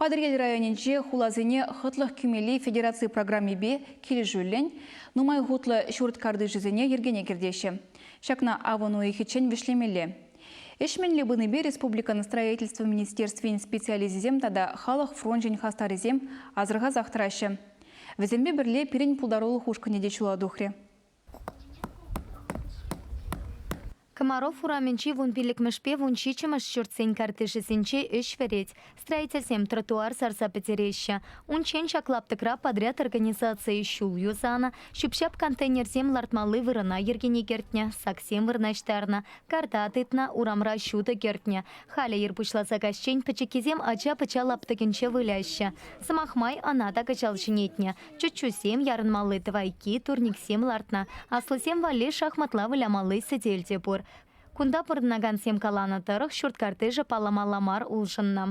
Патӑрьел районӗнчи хуласене хӑтлӑх кӳмелли федераци программипе килӗшӳллӗн нумай хутлӑ ҫурт картишӗсене йӗркене кӗртеҫҫӗ. Ҫакна авӑн уйӑхӗччен вӗҫлемелле. Ӗҫ мӗнле пынипе республикӑн Строительство министерствин специалисчӗсем тата халӑх фрончӗн хастарӗсем асӑрхасах тӑраҫҫӗ. Вӗсемпе пӗрле пирӗн пултарулӑх ушкӑнӗ те ҫула тухрӗ. Комаров урамӗнчи вун пиллӗкмӗшпе вун ҫиччӗмӗш ҫуртсен картишӗсенче ӗҫ вӗрет. Строительсем тротуар сарса пӗтереҫҫӗ. Унччен ҫак лаптӑкра подряд организацийӗ ҫул юсанӑ, ҫӳп-ҫап контейнерсем лартмалли вырӑна йӗркене кӗртнӗ, саксем вырнаҫтарнӑ, карта тытнӑ, урамра ҫутӑ кӗртнӗ. Халӗ ир пуҫласа каҫчен пӗчӗккисем ача-пӑча лаптӑкӗнче выляҫҫӗ. Сӑмах май, ӑна та кӑҫал ҫӗнетнӗ. Чӗччусем, ярӑнмалли тӑвайкки, турниксем лартнӑ. Аслисем валли шахматла вылямалли сӗтел те пур. Кунта пурӑнакансем каланӑ тӑрӑх, ҫурт картишӗ палламалла мар улшӑннӑ.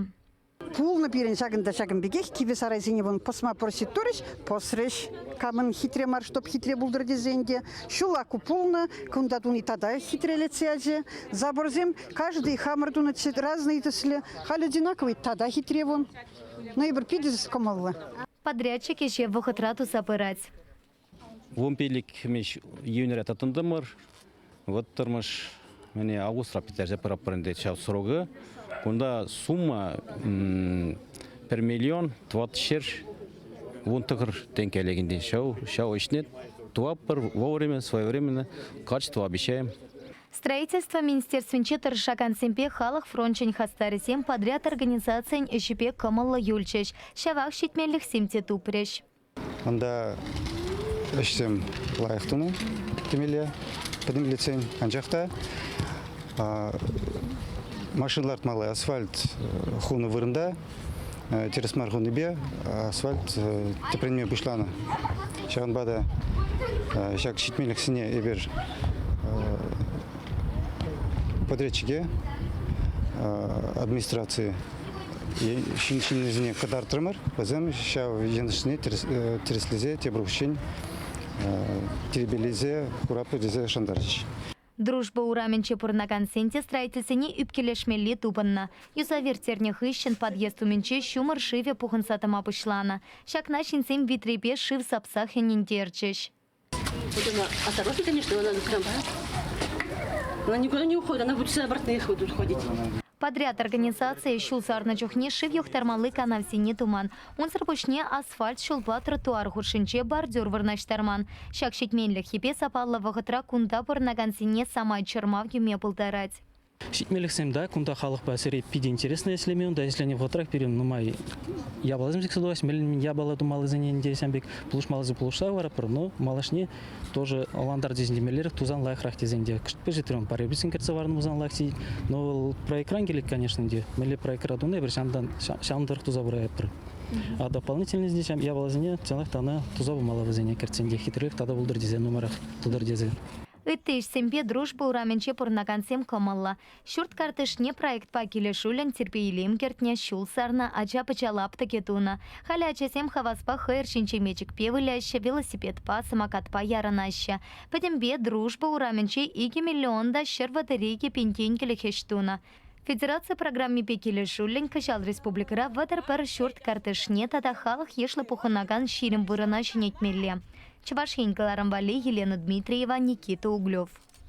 Пулнӑ пирӗн ҫакӑн та ҫакӑн пекех, кивӗ сарайсене вӑн пӑсма просить турӗҫ, пӑсрӗҫ. Камӑн хитре мар, чтоб хитре пултӑр тесен те, ҫула ку пулнӑ, кунта туни тата хитрелетсе ячӗ. Заборсем каждый хамӑр тунӑ цвет разные тӗслӗ, халь одинаковый, тата хитре вон. Но эпир питӗ кӑмӑллӑ. Подрядчик ӗҫе вӑхӑтра туса пырать. Вун пиллӗк хӗмеҫ июньре тытӑнтӑмӑр. Вӑттӑрмӗш мӗне августра пӗтерсе пыратпӑр ӗнтӗ ҫав срокы. Кунта сумма пӗр миллион тӑватӑ ҫӗр вун тӑкӑр тенкӗ лекӗнтен ҫав ҫав ӗҫне тӑватпӑр вовремя, своевременно качество обещаем. Строительство министерствинче тӑрӑшакансемпе халӑх фрончӗн хастарӗсем подряд организацийӗн ӗҫӗпе кӑмӑллӑ юлчӗҫ, ҫавах ҫитменлӗхсем те тупрӗҫ. Унта ӗҫсем лайӑх тунӑ темелле пӗтӗмлетсен, анчах та машина лартмалла асфальт хунӑ вырӑнта тӗрӗс мар хунипе асфальт тӗпренме пуҫланӑ. Ҫавӑнпа та ҫак ҫитменлӗхсене эпир подрядчике, администраци ҫыннисене кӑтартрӑмӑр. Вӗсем ҫав йӑнӑшсене тӗрӗслесе тепӗр хутчен тирпейлесе куратпӑр тесе шантарчӗҫ. Дружба урамӗнче пурӑнакансен те строительсене ӳпкелешмелли тупӑннӑ. Юсав ирттернӗ хыҫҫӑн подъезд умӗнче ҫумӑр шывӗ пухӑнса тӑма пуҫланӑ. Ҫакна ҫынсем витрепе шыв сапсах ӗнентерчӗҫ. Вӑтана осторожно, конечно, она трамвая. Она никуда не уходит, она будет всегда обратно ходить. Подряд организацийӗ ҫул сарнӑ чухне шыв юхтармалли канавсене туман. Унсӑр пуҫне асфальт ҫулпа тротуар хушшинче бордюр вырнаҫтарман. Ҫак ҫитменлӗххипе сапаллӑ вӑхӑтра кунта пурӑнакансене самай чӑрмав кӳме пултарать. Ҫитменлӗхсем та кунта халӑхпа сире питӗ интереслӗ ӗҫлеме, унта ӗҫленӗ вӑхӑтрах пирӗн нумай япаласем сиксе тухаҫҫӗ. Мӗнле япала тумаллисене те ҫавӑн пек пулӑшмаллисем пулӑшса хӑваратпӑр, но малашне тоже лантар тесен темеллерех тусан лайӑхрах тесен те кӑштпеши трем пареписен кӗртсе варнӑ пулсан лайӑх тет но вӑл проектран килет конечно те мелле проектра туна эпир ҫантан ҫавӑн тӑрӑх туса пыратпӑр а дополнительно ҫам япаласене чӑнах та ӑна туса пымалла вӗсене кӗртсен те хитрех тата пултӑр тесе нумайрах пултӑр тесе ытти ӗҫсемпе Дружба урамӗнче пурӑнакансем кӑмӑллӑ. Ҫурт картишне проектпа килӗшӳллӗн тирпей-илем кӗртнӗ, ҫул сарнӑ, ача-пӑча лаптӑкӗ тунӑ. Халӗ ачасем хаваспа хӑйӑр ҫинче мечӗкпе выляҫҫӗ, велосипедпа, самокатпа ярӑнаҫҫӗ. Пӗтӗмпе Дружба урамӗнче икӗ миллион та ҫӗр вӑтӑр-икӗ пин тенкӗлӗх ӗҫ тунӑ. Федераци программипе килӗшӳллӗн кӑҫал республикӑра вӑтӑр пӗр ҫурт картишне тата халӑх йышлӑ пухӑнакан ҫирӗм вырӑна ҫӗнетмелле. Чӑваш Ен кӑларӑм валли Елена Дмитриева, Никита Углев.